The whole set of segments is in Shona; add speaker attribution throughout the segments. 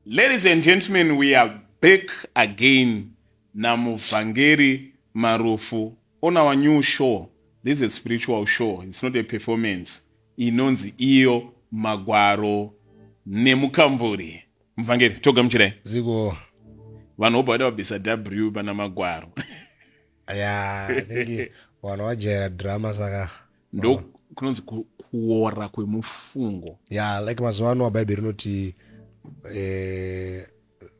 Speaker 1: Ladies and gentlemen, we are back again naMuvhangeri Marufu on our new show. This is a spiritual show, it's not a performance. Inonzi iyo magwaro nemukamburi. Muvhangeri, togamuchirai. Ziko. Vanhu vobva vada vabvisa W pana magwaro. Ya, yeah, vana vajaira drama saka. ndo kunonzi kuora kwemufungo ya like mazuva ano abhaibheri rinoti eh,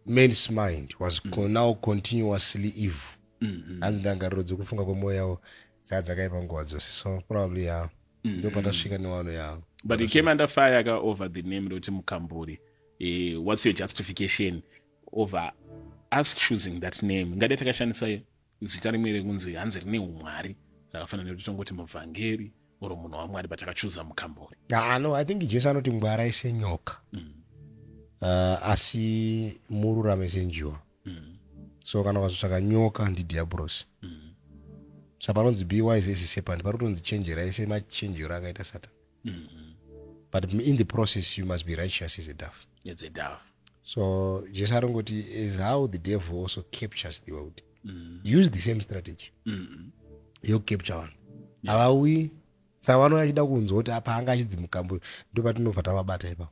Speaker 1: man's mind was mm. now continuously evil mm-hmm. hanzi ndangariro dzekufunga kwemwoyo yavo dzaa dzakaipa nguva dzose so probably ya mm-hmm. ndo patasvika newano yavo but he came under fire aka over the name roti mukamburi eh, what's your justification over us choosing that name ngade takashandisa zita rimwe rekunzi hanzi rine umwari rakafanana nekuti tongoti muvhangeri or munhu wamwari but akachuza mukambori ah, no i think jesu anoti ngwara ise nyoka mm. uh, asi mururame senjiwa mm. so kana ukazotsvaka nyoka ndidhiabhurosi mm. sa panonzi be wise ese sepani pari kutonzi chenjera ese machenjero akaita satani mm -hmm. but in the process you must be righteous as a dove as a dove so jesu arongoti is how the devil also captures the world mm -hmm. use the same strategy mm -hmm. yokukapture vanhu havauyi yeah. saka vanouya achida kunzwa kuti apa anga achidzimukambo ndopatinobva tavabata ipapo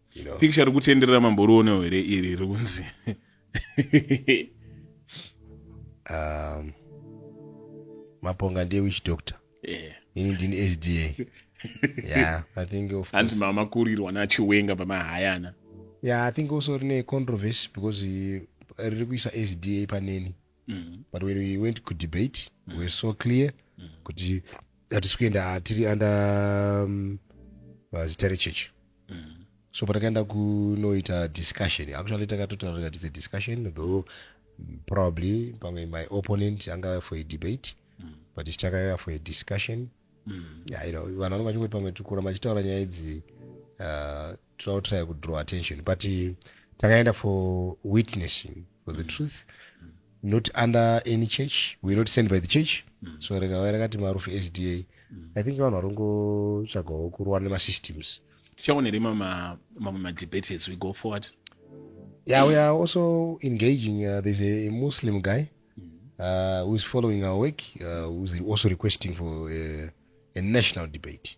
Speaker 1: you know. picture rikutenderera mamborionewo here iri rikunzi um, maponga ndiye wich doctor yeah. ini ndini sda yeah, I think of hanzi mamakurirwa nachiwenga pamahayana yeah, i think also rine controversy because riri kuisa sda paneni mm. but when we went kudebate mm. we were so clear mm. kuti hatisi kuenda tiri under um, uh, zita rechechi mm. so patakaenda kunoita discussion actually takatotaura tis a discussion though mm, probably pamwe my opponent angava for a debate mm. but ichitakaiva for a discussion mm. yeah, you know, vanhu vanenge vachingoti pamwe tikuramba tichitaura nyaya idzi uh, tinotraya kudraw attention but takaenda for witnessing for the mm. truth not under any church we not send by the church mm. so rekava rakati marufu sda mm. i think vanhu varongotsvagawo kurowa nemasystems tichaone rima mamwe madebates as we go forward yeah we are also engaging uh, there's a muslim guy uh, whois following our work uh, whois also requesting for uh, a national debate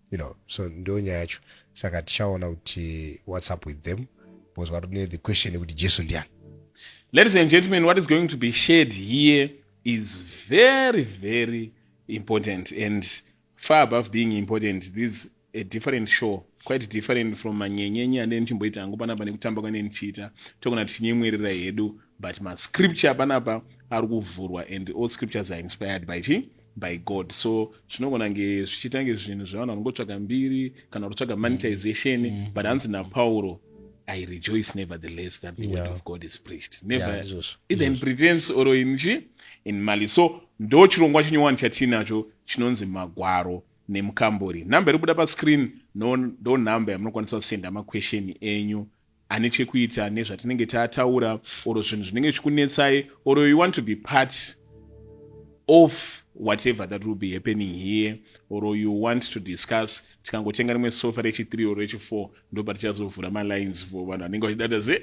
Speaker 1: you know so ndo nyaya yacho saka tichaona kuti whats up with them because vari ne the question yekuti jesu ndiani ladies and gentlemen what is going to be shared here is very very important and far above being important this a different show quite different from manyenyenye ane ndichimboita hangu panapa nekutamba kwane ndichiita tokona tichinyemwerera hedu but mascripture panapa ari kuvhurwa and all scriptures are inspired by chii by god so zvinogona kunge zvichiita kunge zvinhu zvevanhu vanongotsvaga mbiri kana kutotsvaga mm. monetization mm -hmm. but hanzi napauro i rejoice nevertheless that the yeah. word of god is preached never yeah, izvozvo either in pretense or in chi in mali so ndo chirongwa chinyowani chatiinacho chinonzi magwaro nemukambori number iri kubuda pascreen ndo no number yamunokwanisa kusenda maquestion enyu ane chekuita nezvatinenge tataura or zvinhu zvinenge zvichikunetsai or you want to be part of whatever that will be happening here or you want to discuss tikangotenga rimwe sofa rechi3 or rechi4 ndopa tichazovhura malines for vanhu vanenge vachidada se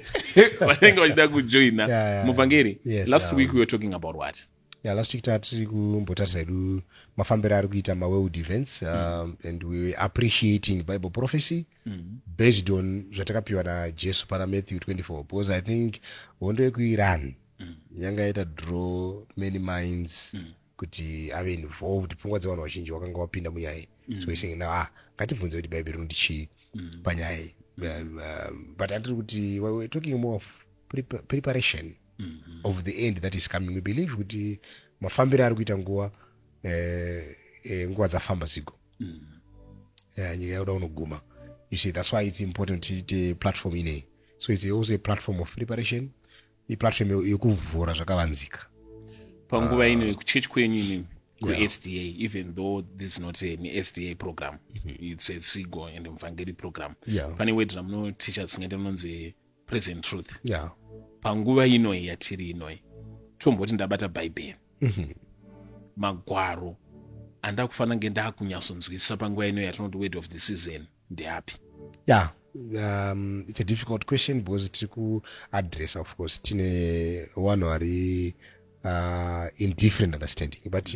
Speaker 1: vanenge vachida kujoina muvhangeri last week we were talking about what Yeah, last week tatiri kumbotarisa hedu mafambiro ari kuita maworld events um, mm. and we appreciating bible prophecy mm. based on zvatakapiwa najesu pana matthew 24 because i think hondo yekuiran mm. yanga yaita draw many minds mm kuti ave involved pfungwa dzevanhu vazhinji wakanga wapinda munyaya iyi mm. so isenge na ah ngatibvunze kuti bhaibheri rinoti chii mm. panyaya iyi mm. um, but atiri kuti we're talking more of preparation mm-hmm. of the end that is coming we believe kuti mafambiro ari kuita nguva eh, eh, nguva dzafamba zigo mm. eh, nyika yakuda kunoguma you see that's why it's important tiite platform inei so it's also a platform of preparation iplatform yekuvhura zvakavanzika panguva ino yekuchechi kwenyu inini kusda yeah. even though this is not an sda program mm -hmm. it's a sigo and mvangeri program yeah. pane wedra munoticha dzisingaite munonzi present truth yeah. panguva inoi yatiri inoi tomboti ndabata bhaibheri mm -hmm. magwaro andava kufanira kunge ndaakunyatsonzwisisa panguva ino yatinoti word of the season ndeapi ya yeah. Um, it's a difficult question because tiri kuadressa of course tine vanhu vari uh, in different understanding but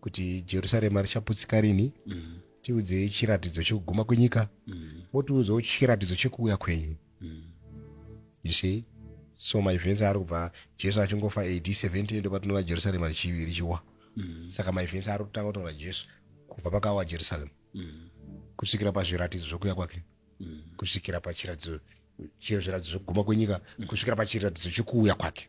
Speaker 1: kuti jerusarema richaputsika rinhi mm. tiudzei chiratidzo chekuguma kwenyika mm. wotiudzawo chiratidzo chekuuya kwenyu mm. you see so maevents ari kubva jesu achingofa ad 17 ndopatinoona jerusarema richiwa mm. saka maevents ari kutanga kutaura jesu kubva pakawa jerusarema mm. kusvikira pazviratidzo zvokuya kwake mm. kusvikira pachiratidzo chezviratidzo zvekuguma kwenyika mm. kusvikira pachiratidzo chekuuya kwake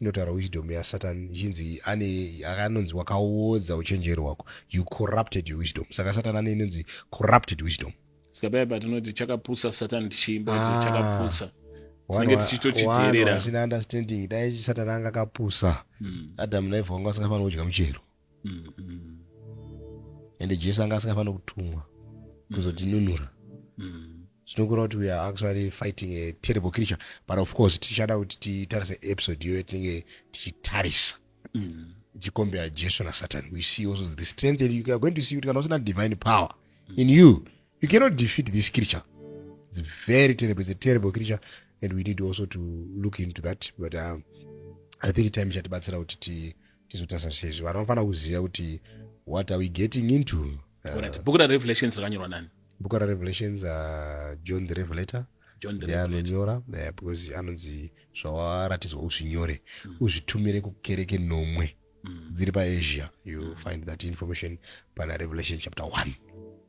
Speaker 1: Inotaura wisdom yaSatan ichinzi ane anonzi wakaodza uchenjeri hwako. You corrupted your wisdom. Saka Satan ane inonzi corrupted wisdom. Saka paya patinoti chakapusa Satan tichiimba kuti Ah. chakapusa. Tinenge tichitochiteerera. Asina understanding. Dai Satan anga akapusa. Mm. Adam naEva vanga vasingafaniri kudya muchero. mm-hmm. ende jesu anga asingafanira kutumwa mm. kuzotinunura mm. zvinokureva kuti weare actually fighting a terrible creature but of course tichada kuti titarise episode iyoyo tinenge tichitarisa mm. tichicombera jesu nasatan we see also the strength and you are going to see kuti kana usina divine power in you you cannot defeat this creature it's very terrible it's a terrible creature and we need also to look into that but um, i think time ichatibatsira kuti tizotarisa sezvo vanhu vanofanira kuziva kuti what are we getting into uh, bhuku rarevelations rakanyorwa nani bhuku rarevelations uh, john the revelator anonyora uh, because anonzi zvawaratidzwa uzvinyore mm. uzvitumire kukereke nomwe mm. dziri paasia you mm. find that information pana revelation chapter one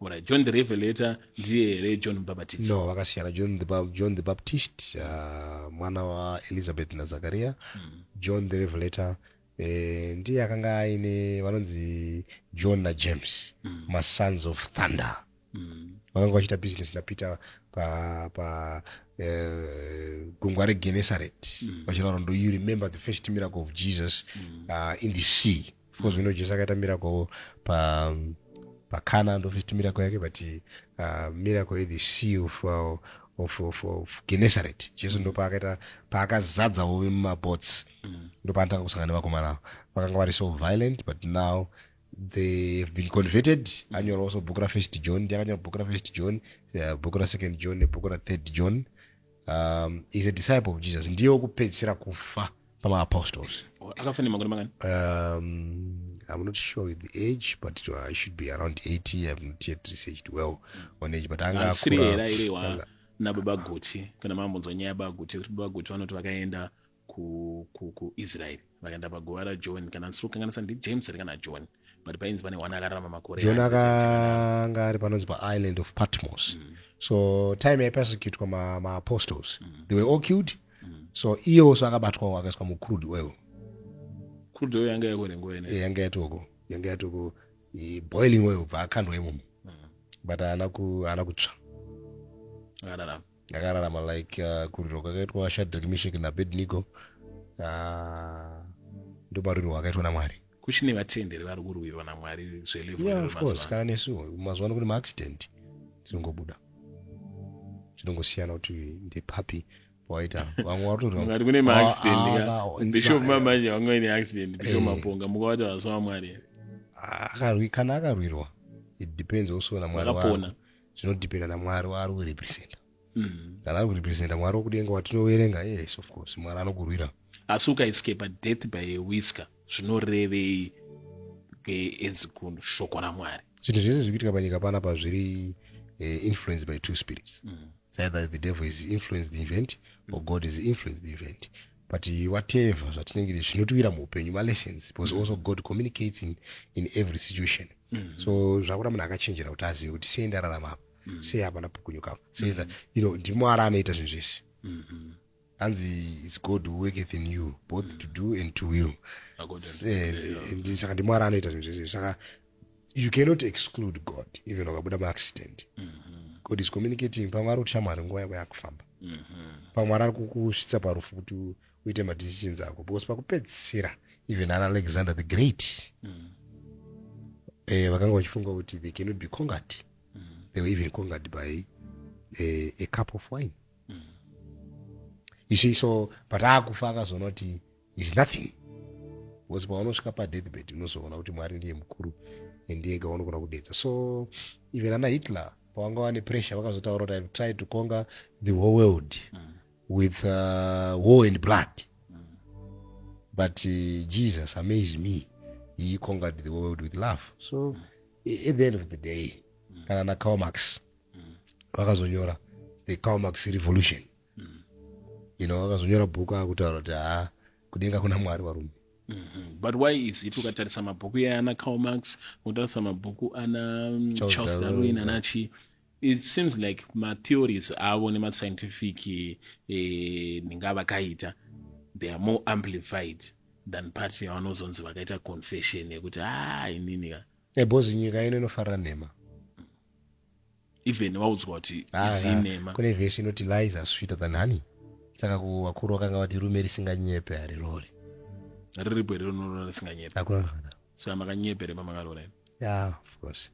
Speaker 1: right. john the revelator ndiye here john mubhabhatisi no vakasiyana john the, Bap- john the baptist uh, mwana waelizabeth nazakaria mm. john the revelator eh, ndiye akanga aine vanonzi john najames mm. masons of thunder mm. vakanga vachiita business napeter pa, pa eh, gungwa regenesaret mm. vachitaura ndo you remember the first miracle of jesus mm. uh, in the sea of course we know jesu akaita miracle pa um, pakana ndofiti miracle yake but uh, miracle ye the sea of, uh, of, of, of genesaret jesu ndo paakaita paakazadza uve mumabots mm. ndo paanotanga kusangana nevakomana avo vakanga vari so violent but now they have been converted mm. anyora also bhuku rafirst john ndiakanyora bhuku rafirst john uh, bhuku rasecond john nebhuku rathird john um, is a disciple of jesus ndiye wekupedzisira kufa pamaapostles akafa nemakore mangani um, i'm not sure with the age but it, uh, should be around 80 i've not yet researched well on age but anga asiri hera iri wa nababa guti kana mambonzwa nyaya baba guti kuti baba guti vanoti vakaenda ku, ku, ku israel vakaenda paguva rajohn kana ndisiri kukanganisa ndi james ari kana john but painzi pane wana akararama makore john akanga ari panonzi paisland of patmos mm. so time yaipersecutwa maapostles ma mm. they were all killed mm. so iyewo so akabatwawo akaiswa mucrude oil crude oil yanga yako nenguva ine eh, yanga yatoko yanga yatoko boiling oil bva akandwa imomo mm. but haana kutsva akararama akararama like uh, kuriro kwakaitwa shadrik mishik nabednigo uh, ndobariro wakaitwa namwari kuchine vatenderi vari kurwirwa namwari zvelevkana nesu mazuva ano kune maaccident tinongobuda tinongosiyana kuti ndepapi waita vamwe varitoati kune maaccidentbishop mamanje vanga vaine accident bishop eh. maponga mukavata vasa vamwari akarwi kana akarwirwa it depends also namwari zvinodependa namwari waari kurepresenta mm. kana ari kurepresenta mwari wokudenga watinoverenga yes of course mwari anokurwira asi ukaescapa death by a whisker zvinorevei as kunhu shoko ramwari zvinhu zvese zviri kuitika panyika pana pa zviri uh, influenced by two spirits mm. either the devil is influenced the event or god is influenced the event but whatever zvatinenge zvinotiwira muupenyu malessons because mm. also god communicates in, in every situation mm. so zvakuda munhu akachenjera kuti azive kuti sei ndararama apa mm. sei hapana pukunyuka apa sei mm. you know ndimwari anoita zvinhu zvese mm -hmm hanzi is god who worketh in you both mm. to do and to will saka ndimwari anoita zvinhu zvese saka you cannot exclude god even wakabuda maaccident mm -hmm. god is communicating pamwe ari kutishamwari nguva yako yakufamba mm -hmm. pamwe ari kukusvitsa parufu kuti uite madecisions ako because pakupedzisira even ana alexander the great mm. eh, vakanga vachifunga kuti they cannot be congat They were even conquered by a, a cup of wine. Mm. You see, so but akufa akazonoti is nothing because paunosvika padeathbed unozoona kuti mwari ndiye mukuru ndiye ega unogona kudedza so even ana hitler pavanga vane pressure vakazotaura kuti ive tried to conquer the whole world mm. with uh, war and blood mm. but uh, jesus amazed me he conquered the world with love so mm. at the end of the day mm. kana na Karl Marx mm. vakazonyora the Karl Marx revolution mm. you know vakazonyora bhuku akutaura kuti haa kudenga kuna mwari varume Mm-hmm. but why is it ukatarisa mabhuku iyaye ana Karl Marx ukatarisa mabhuku ana mm, Charles Darwin anachii It seems like matheories avo nemascientific eh, ndinga vakaita they are more amplified than part yavanozonzi vakaita confession yekuti haa ah, inini ka ebhozi eh, nyika ino inofarira nhema even waudzwa kuti ah, idzii ah, nhema kune vhesi inoti lies are sweeter than honey saka kuvakuru vakanga vati rume risinganyepe harirori riripo here rinoona risinganyepe hakuna saka makanyepe remamangarora ya of course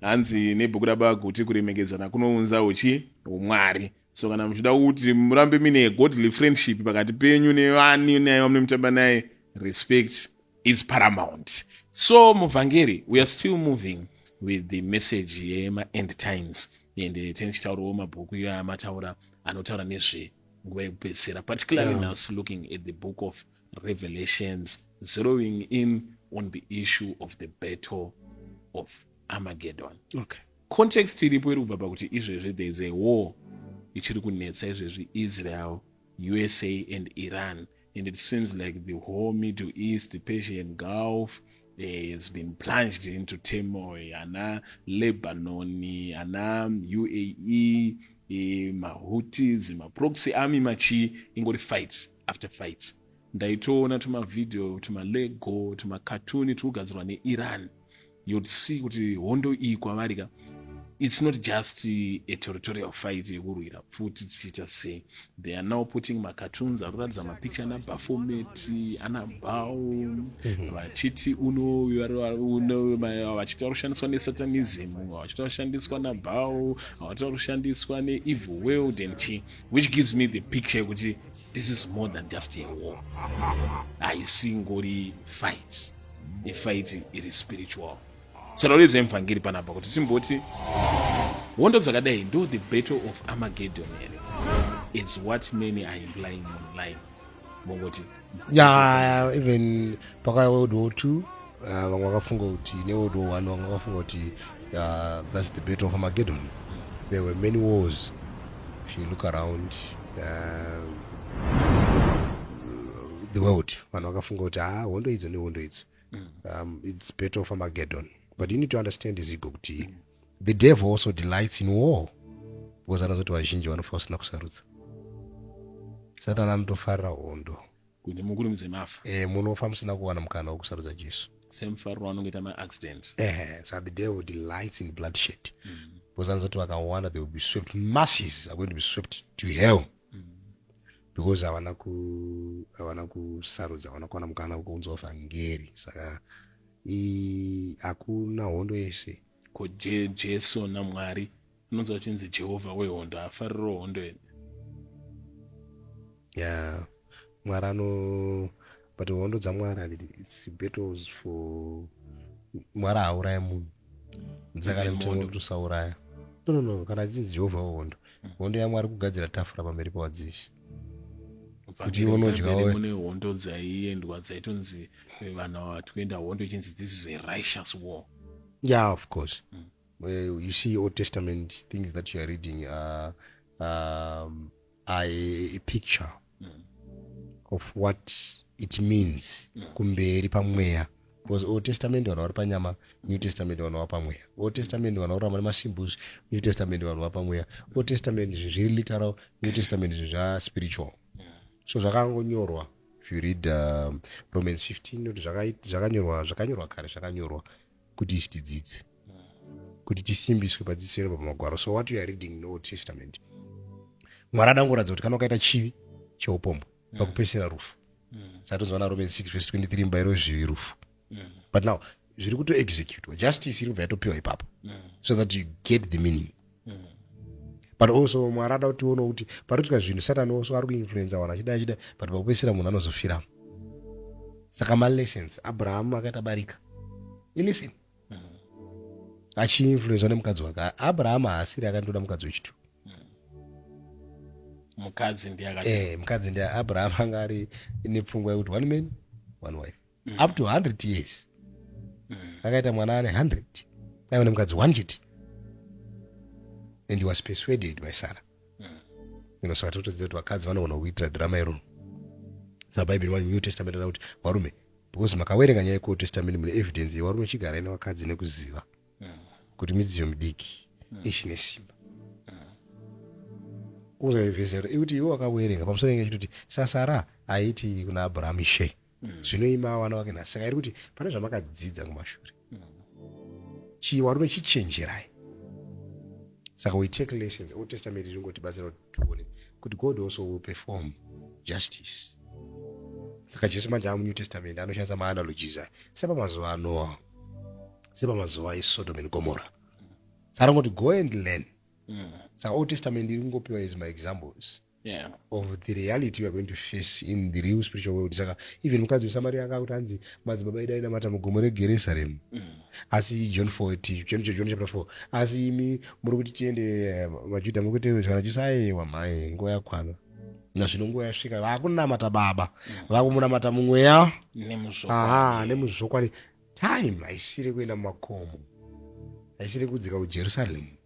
Speaker 1: Hanzi nebhuku raBaba Guti kuremekedzana kunounza uchi humwari. So kana muchida kuti murambe mine godly friendship pakati penyu nevani naye vamunomutamba naye respect is paramount. So muvhangeri we are still moving with the message yema end times ende eh, tene tichitaurawo mabhuku iyo amataura anotaura nezve nguva yekupedzisira particularly yeah. now looking at the book of revelations zeroing in on the issue of the battle of armageddon okay. context iripo iri kubva pakuti izvezvi there is a war ichiri kunetsa izvezvi israel usa and iran and it seems like the whole middle east the persian gulf eh, has been plunged into turmoil ana lebanon ana uae eh, mahutis maproxy army machii ingori fights after fights ndaitoona tumavideo tumalego tumakatuni tiri kugadzirwa neiran you'd see kuti hondo iyi kwavari ka it's not just a territorial fight yekurwira futi tichiita sei they are now putting macartoons ari kuratidza mapicture ana bafomet ana bow mhm. vachiti unvachiti ari kushandiswa nesatanism vachiti vashandiswa nabow vachiti ari kushandiswa neevil world and chi which gives me the picture yekuti This is more than just a war. Haisingori fight. The fight iri spiritual. Saka uridza mvhangeri panapa kuti timboti hondo dzakadai ndo the battle of Armageddon here. It's what many are implying online. Mongoti. Yeah, even Pakaya World War II. Ah, vamwe vakafunga kuti neworld war one vamwe vakafunga kuti ah, thats the battle of armageddon there were many wars if you look around ah, the world vanhu vakafunga kuti ha hondo idzo nehondo idzo mm. um, its battle of armageddon but you need to understand izigo kuti the devil also delights in war because anozoti vazhinji vanofa vasina kusarudza satani anotofarira hondo kuti mukurumidze mafa eh, munofa musina kuwana mukana wekusarudza jesu semufariro anongoita maaccident eh, so the devil delights in bloodshed mm. because anozoti vakawanda they will be swept masses are going to be swept to hell mm. because havana ku havana kusarudza havana kuwana mukana wekuunzwa vhangeri saka hakuna hondo yese ko jesu namwari unonzwa chinzi jehovha wehondo haafariro hondo ene ya mwari ano but hondo dzamwari handiti its battles for mwari haauraya munhu saka mtondo tosauraya no no no kana achinzi jehovha wehondo mm. hondo yamwari kugadzira tafura pamberi pawadzivisi kuti unodyawo mune hondo dzaiendwa dzaitonzi eh, vanhu vatikuenda hondo ichinzi this is a righteous war yeah of course mm. Well, you see Old Testament things that you are reading are, um, are a, a picture mm. of what it means mm. kumberi pamweya because old testament vanhu vari panyama new testament vanhu vapamweya old testament vanhu vakuramba nemasimbus new testament vanhu vapamweya old testament zvinhu zviri literal new testament zvinhu zvaspiritual so zvakangonyorwa if you read um, romans 15 kuti zvakanyorwa zvakanyorwa kare zvakanyorwa kuti isi tidzidze kuti tisimbiswe padzidziso iro pamagwaro so what you are reading in old testament mwari adangoratidza kuti kana ukaita chivi cheupombwe mm. pakupesera rufu mm. satonzwana romans 6 vese 23 mubairo wezvivi rufu mm. but now zviri kutoexecutwa justice iri kubva yatopiwa ipapo so that you get the meaning but also mwari ada kuti uone kuti paritika zvinhu satani also ari kuinfluenza vanhu achida achida but pakupedzisira munhu anozofiramo saka malessons abrahamu akaita barika ilisten achiinfluenzwa nemukadzi wake abrahamu haasiri akandoda mukadzi wechitu mukadzi ndiye eh, mukadzi ndiye abrahamu anga ari nepfungwa yekuti one man one wife mm. up to 100 years mm. akaita mwana ane 100 aiva nemukadzi one chete and he was persuaded by sarah mm. inosaka totodzidza kuti vakadzi vanogona kuitira drama iroo sabhaibheri wa new testament ana kuti varume because makawerenga nyaya yeold testament mune evidence yevarume chigarai nevakadzi nekuziva mm. kuti midziyo midiki mm. ichine simba kuzaivhesera ikuti iwe wakawerenga pamusoro enge chitoti sasara aiti kuna abraham she mm. zvino mm. ima wana wake nhasi saka iri kuti pane zvamakadzidza kumashure mm. chii warume chichenjerai saka we take lessons old testament ringotibatsira kuti tione kuti god also will perform justice saka jesu manje ava munew testament anoshandisa maanalogies aya sepamazuva anoa sepamazuva esodom and gomora saringoti go and learn mm. saka old testament iri kungopiwa as my examples mm. yeah. of the reality weare going to face in the real spiritual world saka even mukadzi wesamaria anga akuti hanzi madzibaba edu ainamata mugomo regeresaremu mm. asi john 4 john chapter 4 asi imi muri kuti tiende eh, vajudha muri kuti kana jesu ayewa mhai nguva yakwana nazvino nguva yasvika vakunamata baba mm. vakumunamata mumweya nemuzvokwadi time haisiri kuenda mumakomo haisiri kudzika kujerusalemu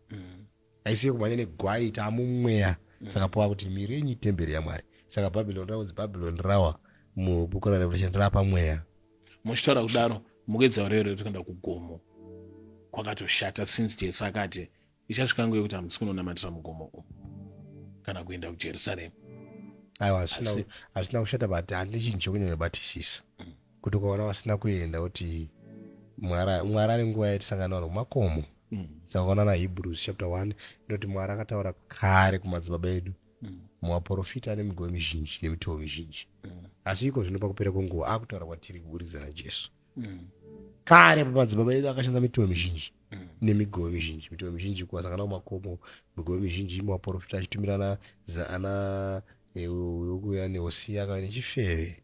Speaker 1: haisi yekumhanya negwai taamumweya mm. saka pava kuti miri yenyu itemberi yamwari saka bhabhiloni raunzi bhabhiloni rawa mubuku rarevelation rapa mweya muchitaura kudaro mukuedza hure hure tikaenda kugomo kwakatoshata since jesu akati ichasvika nguva yekuti hamusi kunonamatira mugomo umu kana kuenda kujerusaremu aiwa hazvina kushata but hande chinhu chekunyanya batisisa mm. kuti ukaona vasina kuenda kuti mwara mwara ane nguva yatisangana vanhu kumakomo mm. saka ukaona na hebrews chapter 1 inoti mwara akataura kare kumadzibaba edu mm. muvaprofita ane migove mizhinji nemitovo mizhinji mm. asi iko zvino pakupera kwenguva akutaura kwatiri kuburikidza najesu mm. kare pamadzibaba edu akashandisa mitovo mizhinji mm. nemigomo mizhinji mitemo mizhinji kuwasangana kumakomo migomo mizhinji imaporofita achitumirana zaana yokuya nehosi yakava nechifeve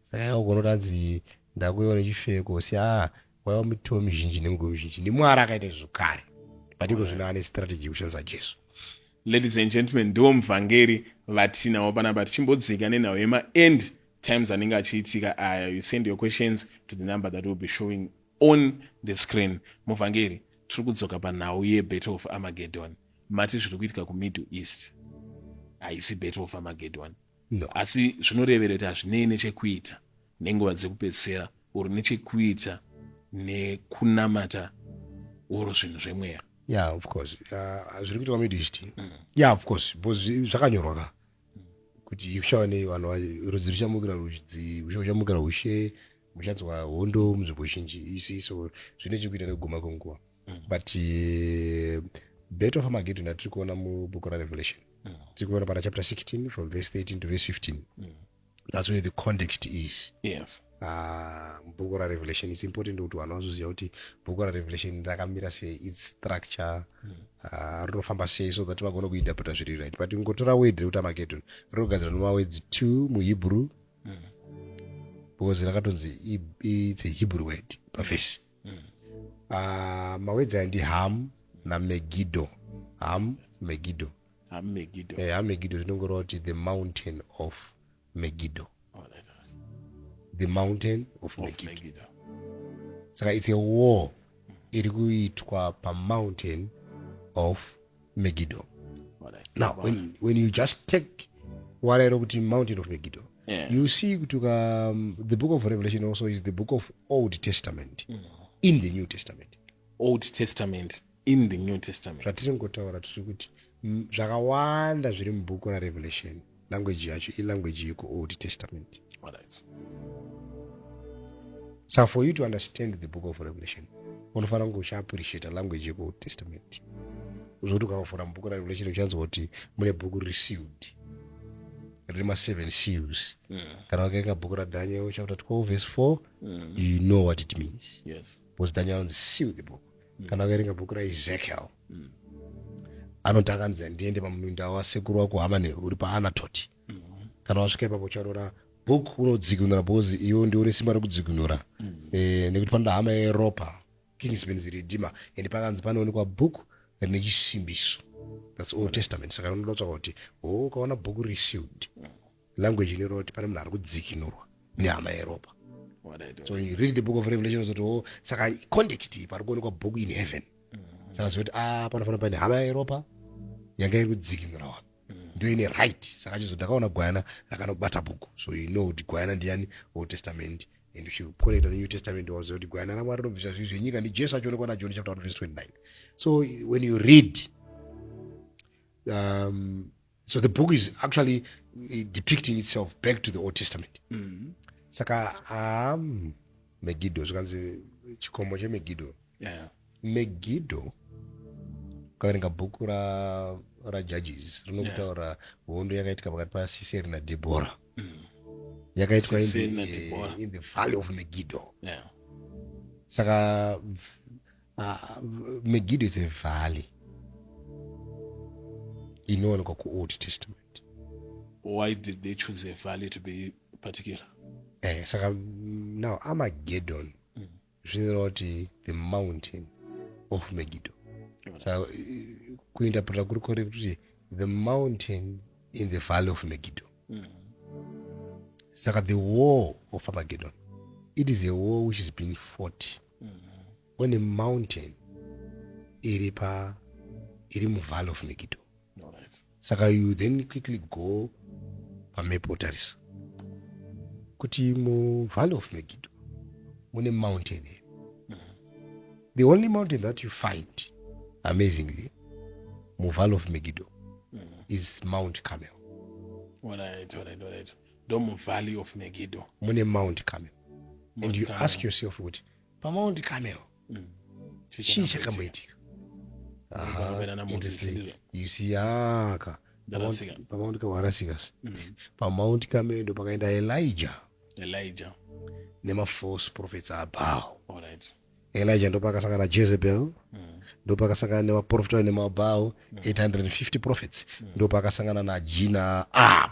Speaker 1: saka yakugona kuti anzi ndakuiwa nechifeve kuhosi a waiwa mitoo mizhinji nemigomo mizhinji nemwari akaita izvo kare patiko zvino ane strategy yekushandisa jesu ladies and gentlemen ndiwo muvhangeri vatinawo panapa tichimbodzika nenhau yemaend times anenge achiitika aya you send your questions to the number that will be showing On the screen, Muvhangeri, tiri kudzoka panhau yeBattle of Armageddon. Mati zviri kuitika kuMiddle East haisi Battle of Armageddon. No. Asi zvinoreverera kuti hazvinei nechekuita nenguva dzekupedzisira or nechekuita nekunamata or zvinhu zvemweya. Yeah, of course. Uh, zviri kuitwa Middle East. Mm. Yeah, of course. Because zvakanyorwa ka. Kuti kuchava nevanhu rudzi ruchamukira rudzi, ushe uchamukira ushe. muchanzwa hondo munzvimbo zhinji isi so zvine chekuita nekuguma kwenguva mm. but eh, bet of amagedon atiri kuona mubhuku rarevelation mm. tiri kuona pana chapter 16 from verse 13 to verse 15 mm. that's where the context is yes ah, bhuku rarevelation its important kuti vanhu vazoziva kuti bhuku rarevelation rakamira sei its structure ah, rinofamba sei so that vagona kuinterpreta zviri right but ingotora word rekuti amagedon rinogadzira nemawedzi two muhebrew mm. because rakatonzi its a hebrew word pavhesi mm. mm. uh, ah, mawedzi aya ndi ham namegido ham megido ham megido eh, ham megido zvinongoreva kuti the mountain of megido oh, the mountain of, of megido, megido. saka its a war iri kuitwa pamountain of Megiddo. Now, when, when you just take what I wrote in Mountain of Megiddo, yeah. you see um, the book of Revelation also is the book of Old Testament mm. in the New Testament. Old Testament in the New Testament. Zvatiringotaura tiri kuti zvakawanda zviri mubhuku raRevelation language yacho ilanguage yekuold testament so for you to understand the book of revelation unofanira kunge uchiappreciata language yekuold testament zvokuti ukavafura mubhuku rarevelation uchanzwa kuti mune bhuku riri sealed rine maseven seals mm. kana wakaenga bhuku radaniel chapter 12 verse 4 mm. you know what it means yes. because daniel anzi seal the book mm. kana wakaerenga bhuku raezekiel mm. anoti akanzi handiende pamuninda wasekuru wako hamane uri paanatoti mm. kana wasvika ipapo ucharora book unodzikinura because iwe ndiwe une simba rekudzikinura mm. eh, nekuti panoda hama yeropa kingsmans redima and pakanzi panoonekwa book rine chisimbiso thats old testament saka unoda kutsvaka kuti ho oh, ukaona book received mm. language inoreva kuti pane munhu ari kudzikinurwa nehama yeropa so you read the book of revelation zoti o oh, saka context iyi pari kuonekwa book in heaven mm-hmm. saka zoti a ah, panofanira paine hama yeropa yanga iri kudzikinura wanu mm-hmm. ndo ine right saka chizo ndakaona gwayana rakanobata bhuku so you know kuti gwayana ndiyani old testament and uchikonekta nenew testament waziva kuti gwayana ramwari rinobvisa zvinhu zvenyika ndi jesu achionekwa najoni chapter 1 verse 29 so when you read um, so the book is actually eh, depicting itself back to the old testament mm -hmm. saka um, megido zvikanzi chikomo chemegido yeah. megido ukaverenga bhuku rajudges ra rinokutaura yeah. hondo yakaitika pakati pasiseri nadhebhora mm. yakaitwa in, eh, in the valley of megido yeah. saka Ah, Megiddo is a valley inowanikwa kuold testament why did they choose a valley to be particular eh, saka mm, now armageddon mm. zvinoreva kuti the mountain of megiddo mm. saka so, eh, kuinterpreta kuri kore kuti the mountain in the valley of megiddo mm. saka the war of armageddon it is a war which is being fought one mountain iri pa iri muvalley of megido saka you then quickly go pamap otarisa kuti muvalley of megido mune mountain here the only mountain that you find amazingly muvalley of megido is mount camel All right, all right, all right. ndomuvalley of megido mune mount camel and you ask yourself kuti pamount camel mm. chii chakamboitika you see aka pamount camel arasika mm. pamount camel ndo pakaenda elijah elijah nemafalse prophets abao right. elijah ndopakasangana najezebel mm. ndopakasangana nevaprofita nemabhau 850 mm. prophets mm. ndopakasangana najina ab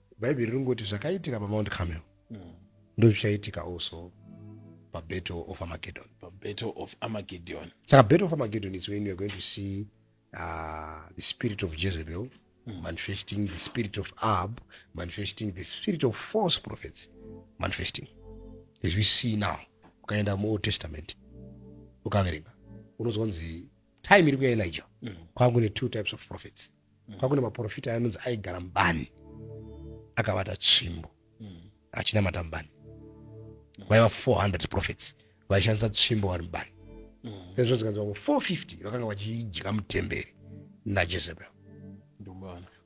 Speaker 1: Bhaibheri ringoti zvakaitika paMount Carmel mm. ndozvichaitika also paBattle of Armageddon. PaBattle of Armageddon. Saka Battle of Armageddon is when you are going to see uh, the spirit of Jezebel mm. manifesting the spirit of Ahab, manifesting the spirit of false prophets, manifesting. As we see now, ukaenda muOld Testament, ukaverenga, unozonzi time iri kuya Elijah, mm. kwangu ne two types of prophets. mm. kwakune maprofita ayanonzi aigara mubani akavata tsvimbo mm. achinamata mubani mm. vaiva 400 profits vaishandisa tsvimbo vari mubani mm. then zvonzi kanzi vamwe 450 vakanga vachidya mutemberi najezebel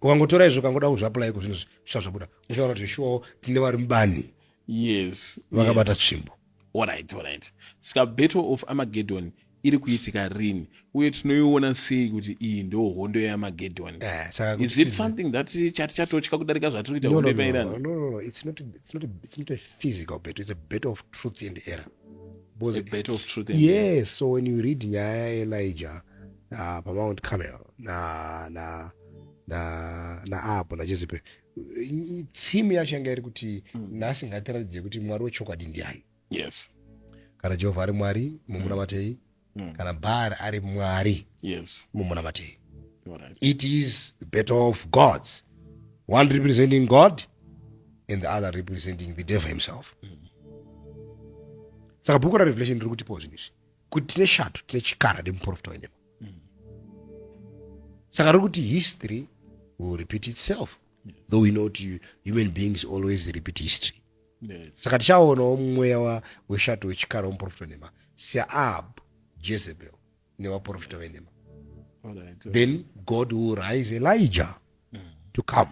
Speaker 1: ukangotora izvo ukangoda kuzviaplai ko zvinhu zvisva zvabuda uchaona kuti shuwawo tine vari mubani yes vakabata yes. tsvimbo Alright, alright. Ska battle of Armageddon iri kuitika rini uye tinoiona sei kuti iyi ndo hondo yeamagedhoni eh, is it something that chati chatotya kudarika zvatiri kuita hondo yepairani yes so when you read nyaya yaelijah uh, pamound camel na na na naapo najezipe tsimu yacho yanga iri kuti mm. nhasi ngatiratidze kuti mwari wechokwadi ndiani yes kana jehovha ari mwari mumunamatei mm. mm. kana bhaari ari mwari yes mumunamatei right. it is the battle of gods one representing god and the other representing the devil himself mm. saka bhuku rarevelation riri kutipawo zvinhu izvi kuti tine shato tine chikara nemuprofita wenyepa saka riri kuti history will repeat itself yes. though we know kuti human beings always repeat history yes. saka tichaonawo mweya weshato wechikara womuprofita wenhema seab jezebel nevaprofita venhema then god will rise elijah mm. to come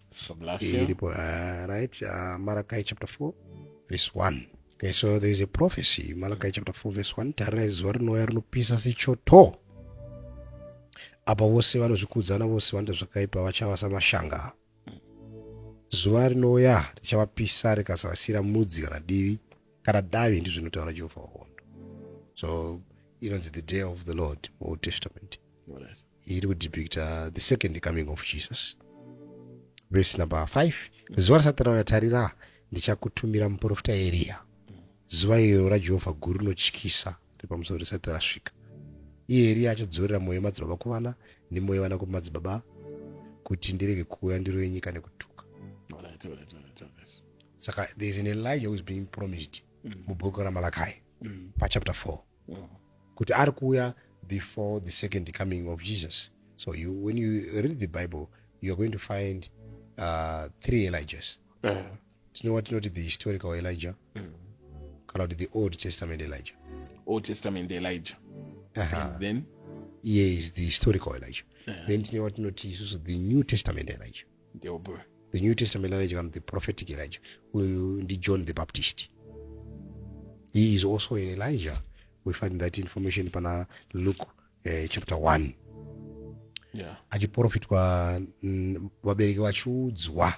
Speaker 1: So bless you. Iripo, uh, right? Uh, Malachi chapter 4, verse 1. Okay, so there is a prophecy, Malachi chapter 4, verse 1. Tarira zuva rinouya rinopisa sechoto. Apa vose vanozvikudza navose vanoita zvakaipa vachava samashanga. Zuva rinouya richavapisa rikasavasira mudzi kana divi kana davi ndizvo zvinotaura Jehovha wahondo. So inonzi the day of the Lord, Old Testament. iri kudepicta the second coming of jesus vese number 5 zuva risati rauya tarira ndichakutumira muprofita eriya zuva iro rajehovha guru rinotyisa repamusoro risati rasvika iye eriya achadzorera mwoyo madzibaba kuvana nemwoyo vana kumadzibaba kuti ndirege kuuya ndiro yenyika nekutuka saka thereis an elijah whois being promised mm. mubhuku ramalakai mm. pachapter 4 kuti ari kuuya before the second coming of jesus so you, when you read the bible youare going to find uh, three elijahs eh. tinowa tinoti the historical elijah mm. kana kuti the old testament elijah old testament elijah uh -huh. then iye is the historical elijah eh. then tinowa tinoti isusu the new testament elijah the new testament elijah kana the prophetic elijah uyu ndijohn the baptist he is also an elijah we find that information pana luke uh, chapter 1 yeah. achiprofitwa mm, vabereki vachiudzwa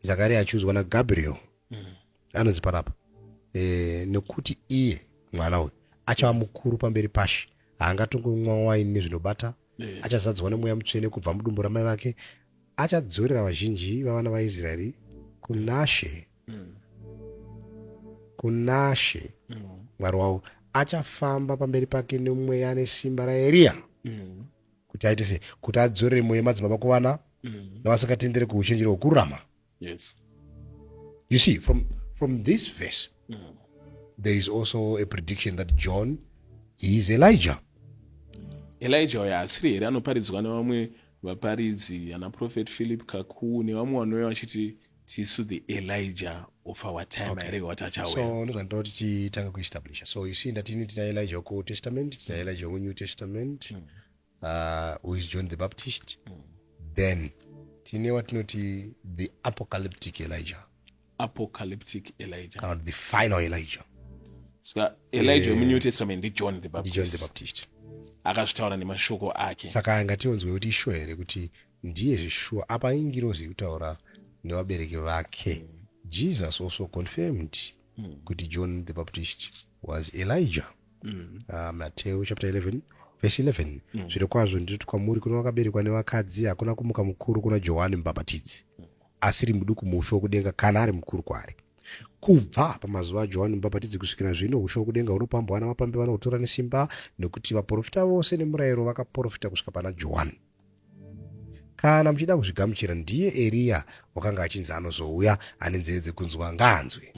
Speaker 1: zakari achiudzwa nagabriel mm. anonzi panapa e, nekuti iye mwana uyu achava mukuru pamberi pashe haangatongomwa waini nezvinobata yes. achazadzwa nemweya mutsvene kubva mudumbu ramai vake achadzorera vazhinji vavana vaisraeri kunashe mm. kunashe mm. mwari wavo achafamba pamberi pake nemweya nesimba raeriya mm. kuti aite sei kuti adzorere mweya madzibaba kuvana mm. navasingatendere kuuchenjeri hwokururama Yes. You see, from, from this verse, mm. there is also a prediction that John is Elijah. Elijah uyo asiri here anoparidzwa nevamwe vaparidzi ana prophet philip kaku nevamwe vanouya vachiti tisu the elijah of our time okay. here watachauyaso ndozvandida kuti titange kuestablisha so you see ndatini tina elijah wekuold testament tina elijah weku new testament mm. uh, who is john the baptist mm. then tine watinoti the apocalyptic elijah apocalyptic elijah kana the final elijah ska elijah eh, wemunew testament ndijohn the baptist john the baptist akazvitaura nemashoko ake saka anga tionzwe kuti ishuwa here kuti ndiye zveshuwa apa ingirozi kutaura nevabereki vake mm. jesus also confirmed mm. kuti john the baptist was elijah mm. uh, mateo chapter 11 vhesi 11 mm. zviri kwazvo ndinoti kwamuri kuno vakaberekwa nevakadzi hakuna kumuka mukuru kuna johani mubhabhatidzi asiri muduku muushe wokudenga kana ari mukuru kwaari kubva pamazuva ajohani mubhabhatidzi kusvikira zvino ushe wokudenga hunopambwa ana mapambi vanohutora nesimba nekuti vaprofita vose nemurayiro vakaprofita kusvika pana johani Kana muchida kuzvigamuchira, ndiye Eriya wakanga achinzi anozouya, ane nzeve dzekunzwa ngaanzwe.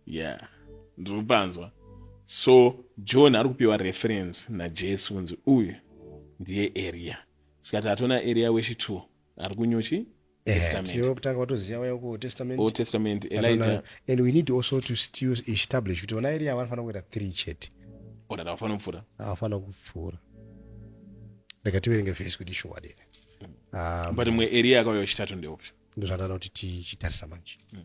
Speaker 1: Yeah, ndiri kupanzwa. So John ari kupiwa reference naJesu kunzi uyu ndiye Eriya. Saka tatoona Eriya wechitwo ari kunyuchi testamentold kutanga watoziva waya ku testament old testament elijah and we need also to still establish kuti vana eriya vanofanira kuita three chete ona tavafanira kupfuura avafanira kupfuura rega tiverenge vhesi kuti shuwa dere um, but mwe eriya akauya wechitatu ndeupi ndozvanana kuti tichitarisa manje mm.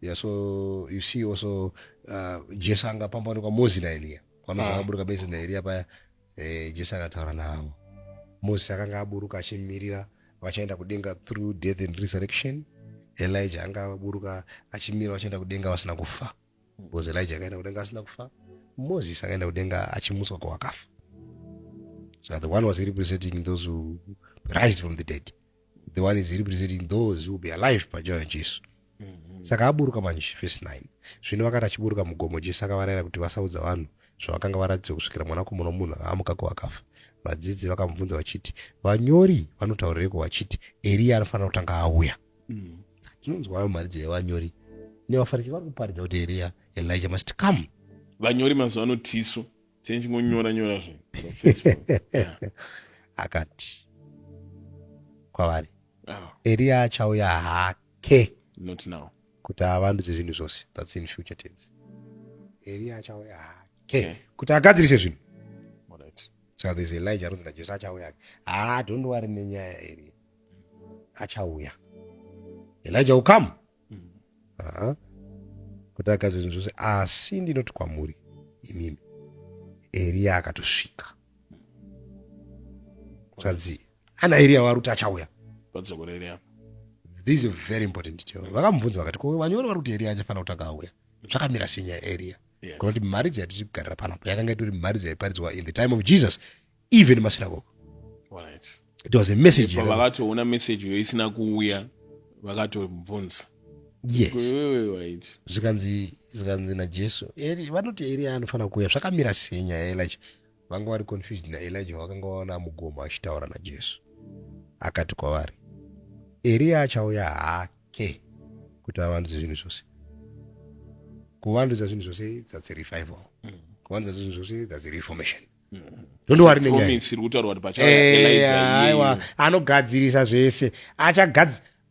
Speaker 1: Yeah, so you see also uh, Jesu anga pamboonekwa Moses na Elia. Kwamaka ah. akaburuka Moses na Elia paya eh, Jesu akataura navo. Moses akanga aburuka achimirira vachaenda kudenga through death and resurrection. Elijah anga aburuka achimirira vachaenda kudenga vasina kufa. Because Elijah akaenda kudenga asina kufa. Moses akaenda kudenga achimutswa kwawakafa. So the one was representing those who rise from the dead. the one is representing those will be alive panjira yajesu mm -hmm. saka aburuka manje verse 9 zvino vakati achiburuka mugomo jesu akavarayira kuti vasaudza vanhu zvavakanga varatidzwa kusvikira mwanakomana womunhu akaamuka kuvakafa vadzidzi vakamubvunza vachiti vanyori vanotaurireiko vachiti eriya anofanira kutanga auya mm. tinonzwa ayo mharidzo yevanyori nevafarisi vari kuparidza kuti eriya elija must come vanyori mazuva ano tisu senchinonyora nyora akati kwavari ah. eriya achauya hake kuti avandudze zvinhu zvose thats in future tense eriya achauya hake kuti agadzirise zvinhu so there's elijah anonzi najesu achauya hake haa ah, don't wari nenyaya eriya achauya elijah ukam haa kuti agadze zvinhu zvose asi ndinoti kwamuri imimi eriya akatosvika zvanzi ana eriya wari kuti achauya this is very important detail vakamubvunza vakati ko vanyori vari kuti eriya achafanira kutanga auya zvakamira sinya eriya yes. kuti mharidzo yatiri kugarira panapo yakanga itori mharidzo yaiparidzwa in the time of jesus even masinagoga it was a message vakatoona message yo isina kuuya vakatobvunza yes zvikanzi zvikanzi najesu eri vanoti eri anofanira kuuya zvakamira sei nyaya yaelija vanga vari confused naelija vakanga vaona mugomo achitaura najesu akati kwavari eriya achauya hake kuti avandudze zvinhu zvose kuvandudza zvinhu zvose that's revival mm. kuvandudza zvinhu zvose that's reformation mm. ndowarinenyaiwa anogadzirisa zvese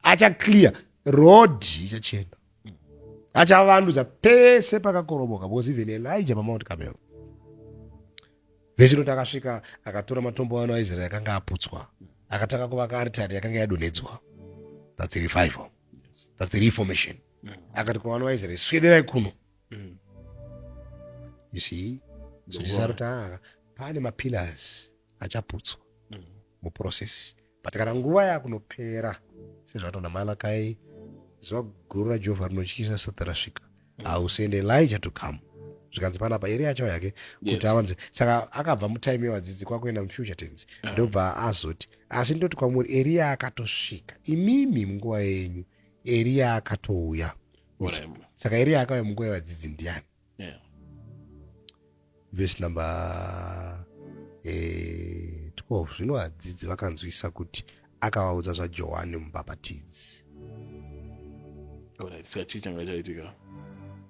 Speaker 1: acha clear road ichachena achavandudza pese pakakoroboka because even elija pamount camel vechino takasvika akatora matombo ano aisraeri akanga aputswa akatanga kuvaka aritari yakanga yadonhedzwa that's revival that's reformation mm. akati kuvana vaisraeri swederai kuno mm. you see so tisakuti ah, pane mapillars achaputswa mm. muprocess but kana nguva yakunopera sezvataona malakai zuva guru rajehovha rinotyisa sati rasvika mm. hausende elija to come zvikanzi panapa iri yacho yake kuti avanze saka akabva mutime yevadzidzi kwakuenda mufuture tense ah. ndobva azoti asi ndoti kwamuri eriya akatosvika imimi munguva yenyu eriya akatouya saka iri akauya munguva yevadzidzi ndiani vhesi namba eh, twelve zvino vadzidzi vakanzwisa kuti akavaudza zvajohani mubhapatidzi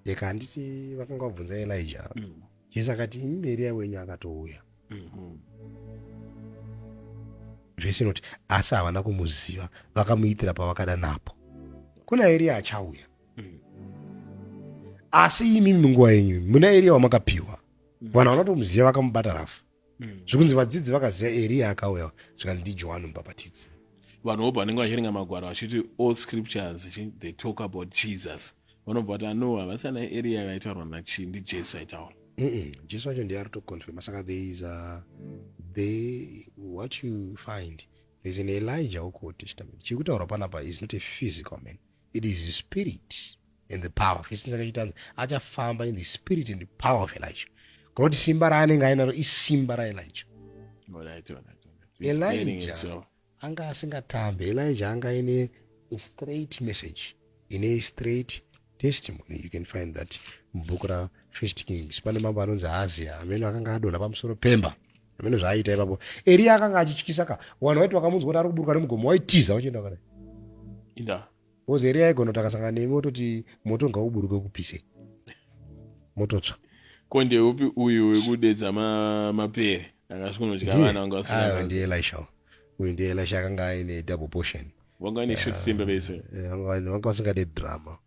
Speaker 1: yeka handiti vakanga vabvunza elija mm. Jesu akati imi Eriya wenyu akatouya. Mm-hmm. Vhesi inoti asi havana kumuziva vakamuitira pavakada napo. Kuna Eriya achauya. Mm. Asi imi munguva yenyu muna Eriya wamakapiwa. Mm. Vanhu vanotomuziva vakamubata rafu. mm. zvikunzi vadzidzi vakaziva eriya akauya zvikanzi ndijohani mubhapatidzi vanhu vobva vanenge vachiringa magwaro vachiti all scriptures they talk about jesus vanobva vati ano havasi ana eriya vaitaurwa nachii ndijesu aitaura jesu wacho ndiye ari toconfirma saka there is a, the, what you find there's an elijah wokoti chitament chiri kutaurwa panapa is not a physical man it is the spirit and the power of isina kachitanzi achafamba in the spirit and the power of elijah kana kuti simba raanenge ainaro isimba raelijah elijah anga asingatambe elijah anga aine straight message ine straight testimony you can find that mubhuku rafirst kings pane mambo anonzi hazia amene akanga adonha pamusoro pemba Hameno zvaaiita ipapo. Eria akanga achityisa ka. Wanhu waiti wakamunzwa kuti ari kuburuka nemugomo waitiza wachienda kana. Inda. Because Eria aigona kuti akasangana newe wototi moto ngauburuke ukupise. Mototsva. Ko ndeupi uyu wekudedza ma, mapere akasvikunodya vana vanga vasina. Ndiye Elisha. Uyu ndiye Elisha akanga aine double portion. Vanga ine short temper vese. Eh, eh, vanga vasingade drama.